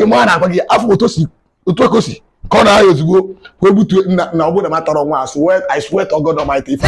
ịma na-agwa gị afọ otu si otu eko si ka ọ na-ahịa ozugbo wepụtụ na ọ bụrụ na m atọrọ nwa a I swear to God Almighty ife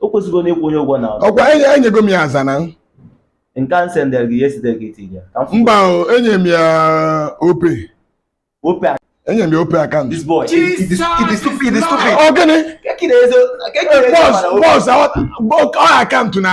o kwesịgo na ịkwụ onye ụgwọ na ọkwa enyego m ya aza na nke a m sendị gị yesterday gị iti ya mba enye m ya Opay Opay enye m ya Opay account this boy it is stupid it ọ gịnị boss boss ọ account na